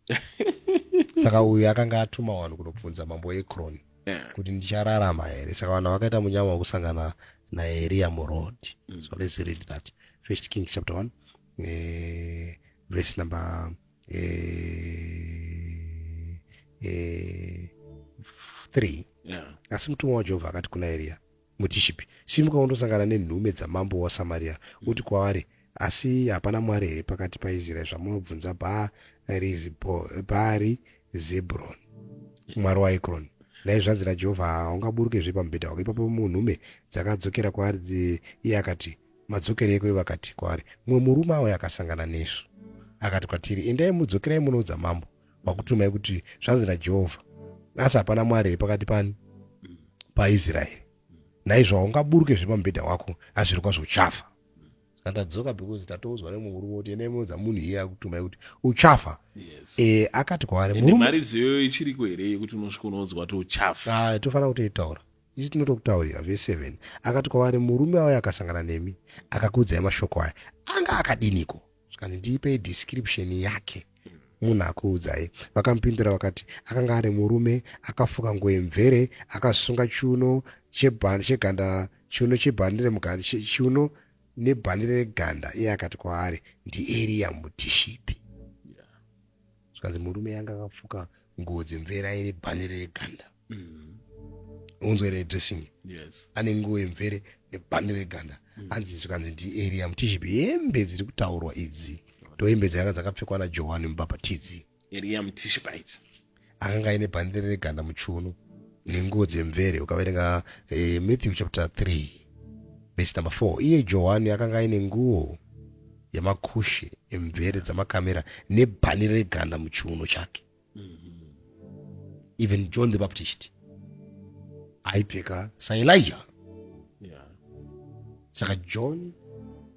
Speaker 1: Saka uyu akanga atuma wanhu kunobvunza mambo Ekroni. yeah. kuti ndichararama here saka vanhu vakaita munyama wekusangana naeriya muroad mm. so let's read that first kings chapter 1 eh, verse number eh, eh, 3 yeah. asi mutumwa wajehovha akati kuna eriya Mutishipi, simuka undosangana nenhume dzamambo waSamaria, uti kwavari, Asi hapana Mwari here pakati paIsraeri zvamunobvunza Bhaari Zebroni, mwari waEkroni? Nhai zvanzi naJehovha, Haungaburukezve pamubhedha wako. Ipapo nhume dzakadzokera kwaari, iye akati, Madzokereiko? Ivo vakati kwaari, Mumwe murume auya akasangana nesu, akati kwatiri, Endai, mudzokerai munoudza mambo. kwakutumai kuti zvanzi najehovha asi hapana mwari here pakati pani paisraeri naizvo haungaburuke zviri pamubhedha wako asi zviri kwazvo uchafa andadzoka because tatoudzwa nemurume kuti ene muudza munhu iye akutumai kuti uchafa yes. e, akati kwaari mharidzo iyoyo ichiriko here yekuti unosvika unoudzwa kuti uchafa ah, tofanira kutoitaura ichi tinotokutaurira veseven akati kwavari murume auya akasangana nemi akakuudzai mashoko aya anga akadiniko zvikanzi ndiipei description yake munhu akuudzai vakamupindura vakati akanga ari murume akafuka nguo yemvere akasunga chiuno chebhandi cheganda chiuno chebhandi remuganda chiuno nebhandi reganda iye akati kwaari ndieriya mutishipi zvikanzi murume yanga akafuka nguo dzemvere aine bhandi reganda mm. unzwa ere dressing yes. ane nguo yemvere nebhande reganda mm. anzi zvikanzi ndiaria mutiship hembe dziri kutaurwa idzi ndohembe dzanga dzakapfekwa najohani mubhabhatidzi aria mutiship idzi akanga aine bhande reganda muchiuno nenguo dzemvere ukaverenga eh, matthew chapter 3 vesi number 4 iye johani akanga aine nguo yamakushe emvere dzamakamera nebhani reganda muchiuno chake even john the baptist aipfeka saelija yeah. saka john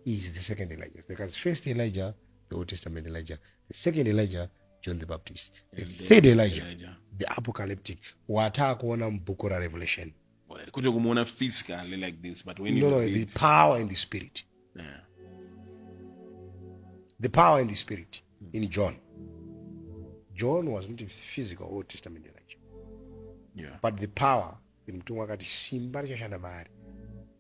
Speaker 1: is the second elijah because first elijah the old testament elijah the second elijah john the baptist the and third the elijah, elijah the apocalyptic wataakuona mubhuku rarevelation kwete kumuona physically like this but when no, no, the power and the spirit yeah. the power and the spirit in John. John was not a physical Old Testament Elijah. Yeah. But the power, the mutumwa akati simba richashanda maari.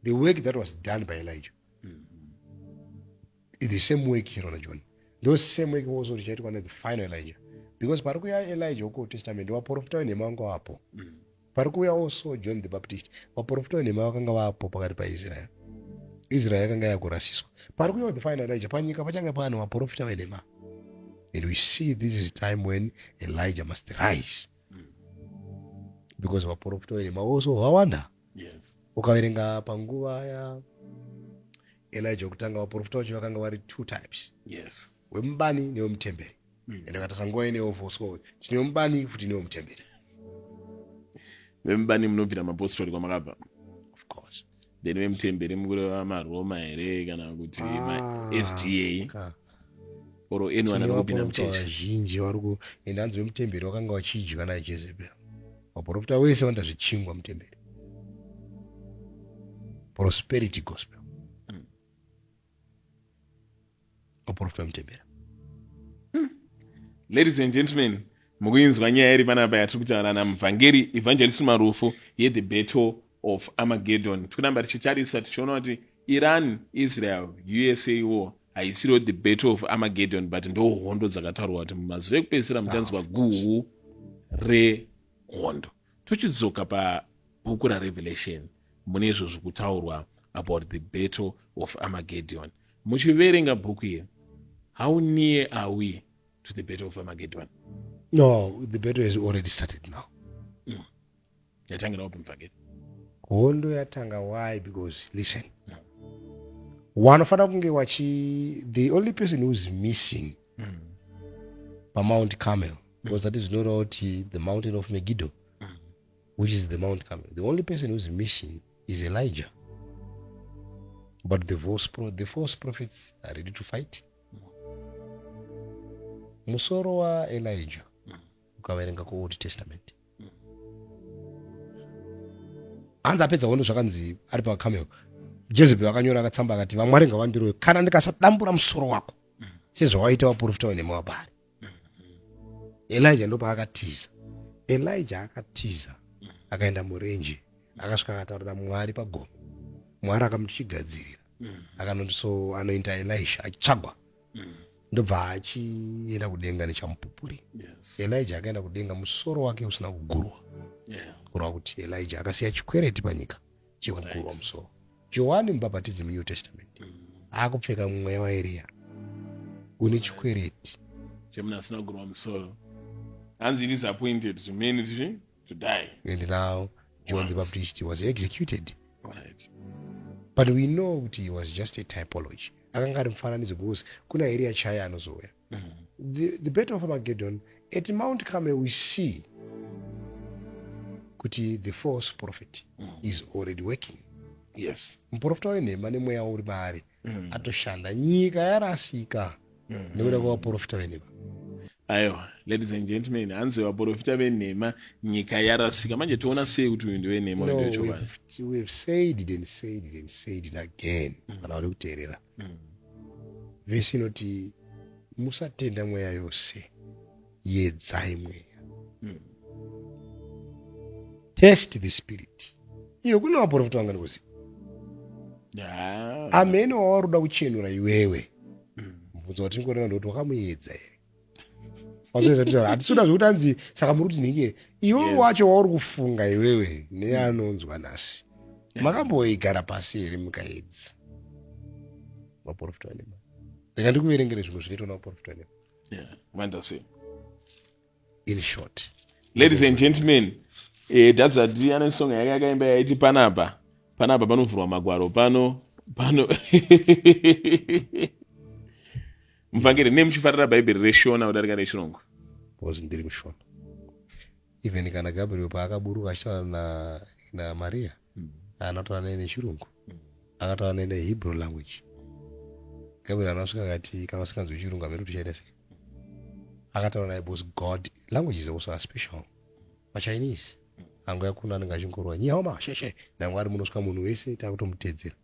Speaker 1: The work that was done by Elijah. Mm -hmm. The same work here on John. Those same work also richaitwa the final Elijah. Because pari kuya Elijah uko Testament waporofita wenhema wangu apo. Mm -hmm. Pari kuuyawo so John the Baptist, vaprofita venhema vakanga vapo pakati paIsrael. Israel yakanga yakurasiswa. Pari kuuyawo the final Elijah, panyika pachange pane vaprofita venhema. And we see this is time when Elijah must rise. Because vaprofita venhema also vawanda. Yes. Ukaverenga panguva ya Elijah kutanga vaprofita vacho vakanga vari two types. Yes. Wemubani newemutemberi. mm. ende ukatasa nguva inewo voswa uyu tinewo mubani futi inewo mutemberi vemubani munobvira mapostori kwamakabva ofcourse then vemutemberi mukureva maroma here kana kuti ah, masda or anyone anokupinda muchechi vazhinji vari ku ende hanzi vemutemberi vakanga vachidya naye jezebel vaprofita wese vanoita zvichingwa mutemberi prosperity gospel vaporofita mutembera hmm. ladies and gentlemen mukuinzwa nyaya iri panapa yatiri kutaura namuvhangeri evangelist marufu yethe battle of armageddon tikuramba tichitarisa tichiona kuti iran israel usa war haisiriwo the battle of armageddon but ndo hondo dzakataurwa kuti mumazuva ekupedzisira muchanzwa guhu rehondo Tochidzoka pabhuku raRevelation mune izvo zviri kutaurwa about the battle of Armageddon. Muchiverenga bhuku iri, how near are we to the battle of Armageddon? No, the battle has already started now. Mm. Yatangira wapi mvangeri? Hondo yatanga why because listen. No. Wanofanira kunge wachi the only person who's missing mm. paMount Carmel because that is not out the mountain of Megiddo, mm. which is the Mount Carmel. The only person who's missing is Elijah. But the false, pro- the false prophets are ready to fight. Musoro wa Elijah ukaverenga ku Old Testament hanzi apedza hondo zvakanzi ari pakameo jezebel akanyora akatsamba akati vamwari ngavandiroyo kana ndikasadambura musoro wako sezvawaita waprofita wenemoabhari elija ndopaakatiza elija akatiza akaenda murenje akasvika akataurira mwari pagomo mwari akamuchigadzirira akanoti so anoita elisha achitsvagwa ndobva achienda kudenga nechamupupuri elija akaenda kudenga musoro wake usina kugurwa kurwa kuti elija akasiya chikwereti panyika chekugurwa musoro johani mubhabhatidzi munew testament akupfeka mweya waeriya une chikwereti chemunhu asina kugurwa musoro hanzi it is appointed to many to, to die and now john right. the baptist was executed right. but we know kuti he was just a typology akanga ari mufananidzo because kuna eriya chaya anozouya the, the battle of armageddon at mount carmel we see kuti the false prophet mm. is already working yes muprofita wenhema nemweya uri paari mm. atoshanda nyika yarasika mm. nekuda kwavaprofita venhema aiwa ladies and gentlemen hanzi vaprofita venhema nyika yarasika manje toona sei kuti uyu ndewenhema no, we've, we've said it and said it and said it again mm. kana mm. vari kuteerera mm. vhesi inoti musatenda mweya yose yedzai mweya mm. test the spirit iyo kune vaprofita vangani kuziva amene wawaruda kuchenura iwewe mubvunzo watingoona ndikuti wakamuedza here hatisuda zvekuti anzi saka muri kuti nhingi iwewe wacho wauri kufunga iwewe neanonzwa nhasi makamboigara pasi here mukaedza maporofita anema rega ndikuverengere zvimwe zvinoitwa namaporofita anema vandasei in short ladies and gentlemen eh, dadzati ane song yake yakaimba yaiti panapa panapa panovhurwa magwaro pano pano muvhangeri nei muchifarira bhaibheri reshona kudarika rechirungu because ndiri mushona even kana gabriel paakaburuka achitaura na, na maria mm. anataura naye nechirungu mm. akataura naye nehebrew language gabriel anasvika akati kana usinganzwi chirungu amene tichaita sei akataura naye because god language is also a special machinese angu yakuna anenge achingorwa nyihoma sheshe nangu ari munosvika munhu wese takutomutedzera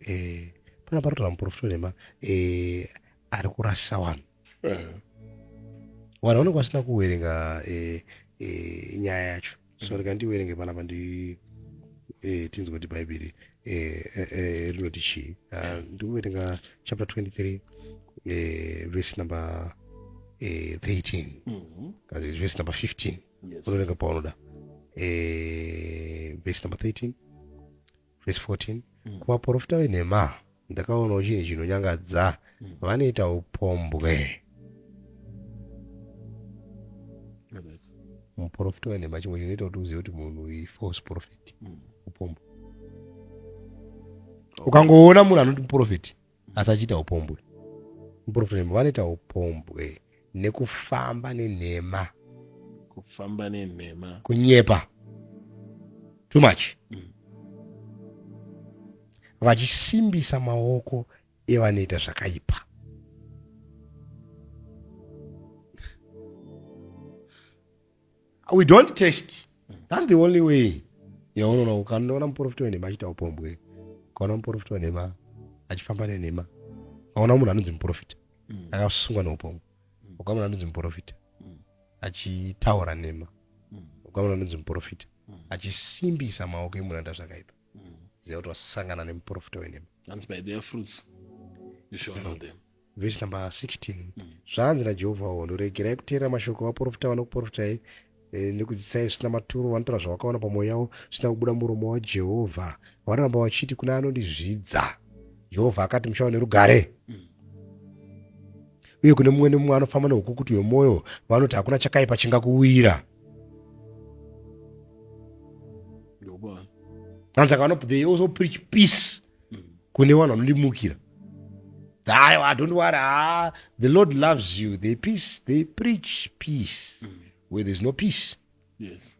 Speaker 1: eh, pana parotora muporofita wenhema eh, ari kurasa wanhu eh. wanhu vanenge vasina kuwerenga eh, eh, nyaya yacho so mm. rega ndiwerenge panapa ndi eh, tinzwa kuti bhaibheri eh, eh, eh, rinoti chii ah, ndikuwerenga chapter 23 eh, verse number eh, 13 mm -hmm. kana verse number 15 yes. unoverenga paunoda eh, verse number 13 vhesi 14 mm. kuvaprofita venhema ndakaonawo chinhu chinonyangadza mm. vanoita upombwe muprofita wenhema chimwe chinoita kuti uzive kuti munhu ifalse profit mm. upombwe ukangoona munhu anoti muprofiti asi achiita upombwe muprofita nembwa vanoita upombwe nekufamba nenhema kufamba nenhema kunyepa too much mm. vachisimbisa maoko evanoita zvakaipa we don't test that's the only way yaunoona ukanoona muporofita wenhema achiita upombwe ukaona muporofita wenhema achifamba nenhema ukaona munhu anonzi muporofita mm. akasungwa neupombwe mm. ukaona munhu anonzi muporofita mm. achitaura nhema ukaona munhu anonzi muporofita achisimbisa maoko emunhu anoita zvakaipa ziva kuti wasangana nemuporofita wenhema vhesi number 16 mm. zvanzi najehovha hondo regerai kuteerera mashoko avaprofita vanokuprofitai eh, nekudzidzisai zvisina maturo vanotaura zvavakaona pamwoyo yavo zvisina kubuda muromo wajehovha vanoramba vachiti kune anondizvidza jehovha akati muchava nerugare mm. uye kune mumwe nemumwe anofamba neukukuti hwemwoyo vanoti hakuna chakaipa chingakuwira anzaka vanopreach peace kune vanhu vanondimukira aiwa don't worry ah, the lord loves you they peace they preach peace mm. where there's no peace yes.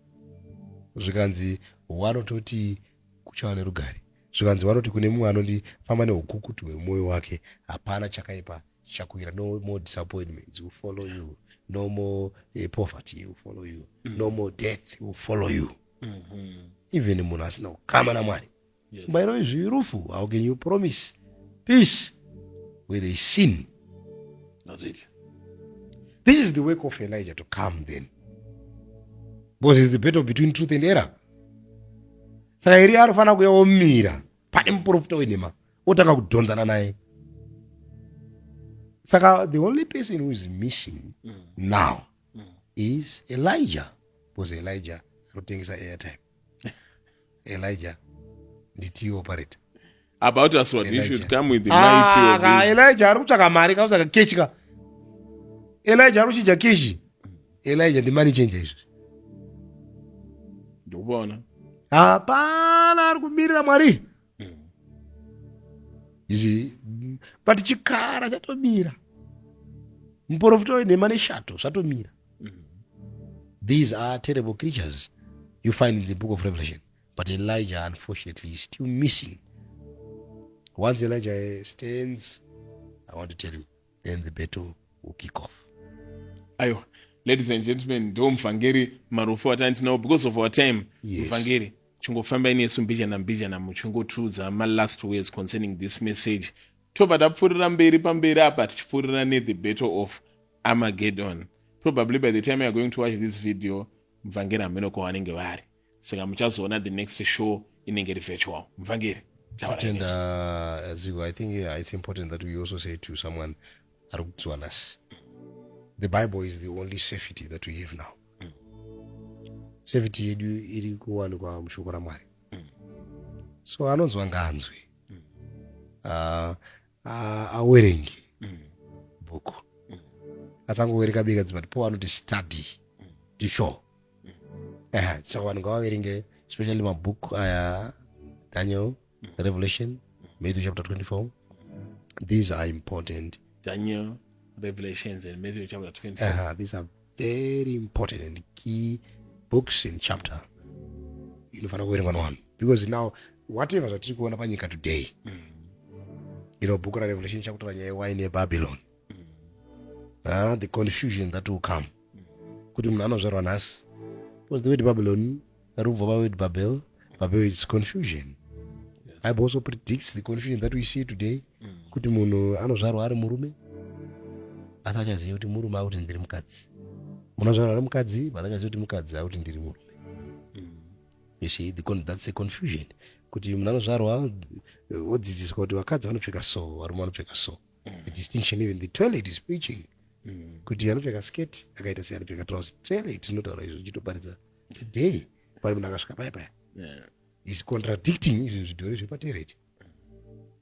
Speaker 1: zvikanzi wanototi kuchava nerugare zvikanzi vanoti kune mumwe anondifamba neukukutu hwemwoyo wake hapana chakaipa chakuira no more disappointments will follow you no more uh, poverty will follow you mm. no more death will follow you mm -hmm. even munhu asina kukama namwari yes. by the izvi rufu how can you promise peace where they sin not it this is the work of elijah to come then because is the battle between truth and error saka iri anofanira kuya omira pane muprofita wenhema otanga kudhonzana naye saka the only person who is missing mm. now mm. is elijah because elijah anotengesa airtime elijah nditi operate about us what you should come with the ah, mighty elijah ari kutsvaka mari ka kutsvaka kechi ka elijah ari kuchinja kechi elijah ndi money changer izvi ndikuona hapana ari kubirira mwari izi but chikara chatomira muporofita wenhema neshato zvatomira these are terrible creatures you find in the book of revelation but elijah unfortunately is still missing once elijah stands i want to tell you then the battle will kick off ayo ladies and gentlemen ndo mvhangeri marufu atandinawo because of our time mvhangeri yes. chingofambai nesu mbijana mbijana muchingotiudza malast words concerning this message tobva tapfuurira mberi pamberi apa tichipfuurira nethe battle of armageddon probably by the time youare going to watch this video mvangeri hameno kwa vanenge vari saka muchazoona the next show inenge iri virtual mvangeri tenda uh, zigo i think yeah, it's important that we also say to someone ari kudzwanasi the bible is the only safety that we have now mm. safety yedu iri kuwanikwa mushoko ramwari mm. so anonzwa ngaanzwe mm. uh, uh, awerenge mm. bhuku mm. asangowereka bika dzimati po anoti study mm. to show mm. uh, so vanhu ngavaverenge especially mabhuku aya uh, daniel Revelation, Matthew chapter 24. These are important. Daniel, Revelations, and Matthew chapter 24. Uh-huh. These are very important and key books in chapter. Inofanira kuverengwa one because now whatever zvatiri kuona panyika today mm. ino bhuku rarevelation chakutaura nyaya yewaini yebabylon ah, the confusion that will come kuti munhu anozvarwa nhasi because the word babylon rubva paword babel babel is confusion bible also predicts the confusion that we see today kuti munhu anozvarwa ari murume asi achaziva kuti murume akuti ndiri mukadzi munhu anozvarwa ari mukadzi but achaziva kuti mukadzi akuti ndiri murume you see the con that's a confusion kuti munhu anozvarwa wodzidziswa kuti vakadzi vanopfeka so varume vanopfeka so the distinction even the toilet is preaching mm. kuti anopfeka sketi akaita sei anopfeka trouse toilet tinotaura izvo chitoparidza today pari munhu akasvika paya paya is contradicting izvi zvidhori zvepatoilet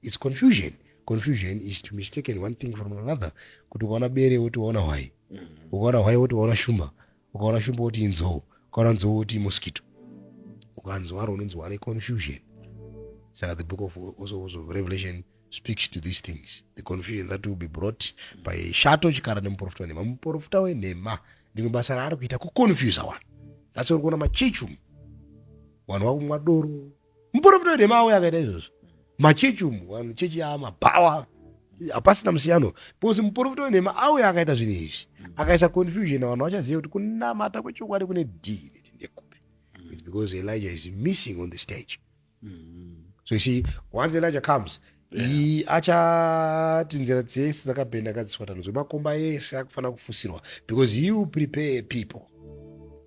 Speaker 1: its confusion confusion is to mistaken one thing from another kuti ukaona bere woti waona hwai mm. ukaona hwai woti waona shumba ukaona shumba woti inzou ukaona nzou woti mosquito ukanzwaro unonzi wane confusion saka the book of also was of revelation speaks to these things the confusion that will be brought by shato chikara nemuprofita wenhema muprofita wenhema rimwe basa raari kuita kuconfusa vanhu that's uri kuona machechi umu vanhu vakumwa doro muporofita wenhema auya akaita izvozvo machechi umu vanhu chechi yaa mabhawa hapasina musiyano because muporofita wenhema auya akaita zvinhu izvi akaisa confusion vanhu vachaziva kuti kunamata kwechokwadi kune dhii neti ndekupi its because elijah is missing on the stage mm-hmm. so you see once elijah comes iyi achati nzira dzese dzakabhenda kadziswatanwa zvemakomba ese akufanira kufusirwa because he will prepare people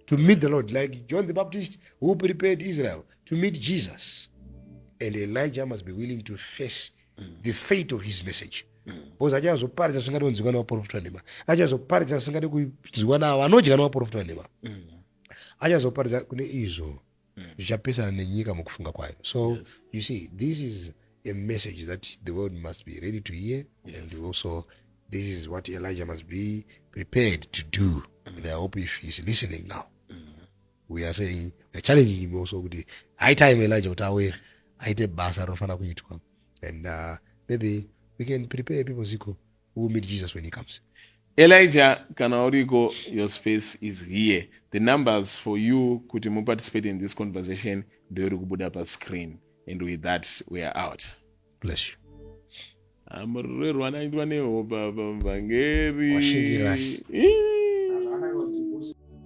Speaker 1: to meet the lord like john the baptist who prepared israel to meet jesus and elijah must be willing to face the fate of his message because achazoparidza zvingade kunzwiwa nevaprofita nhema achazoparidza zvingade kunzwiwa navo vanodya nevaprofita nhema achazoparidza kune izvo mm. zvichapesana nenyika mukufunga kwayo so yes. you see this is a message that the world must be ready to hear yes. and also this is what elijah must be prepared to do mm. and i hope if he's listening now mm. we are saying we're challenging him also kuti high time elijah kuti auye aite basa rinofanira kuitwa and uh, maybe we can prepare people ziko we will meet jesus when he comes elijah kana uriko your space is here the numbers for you kuti muparticipate in this conversation ndoiri kubuda pascreen and with that we are out bless you amurerwa naitwa nehopa pamvangeri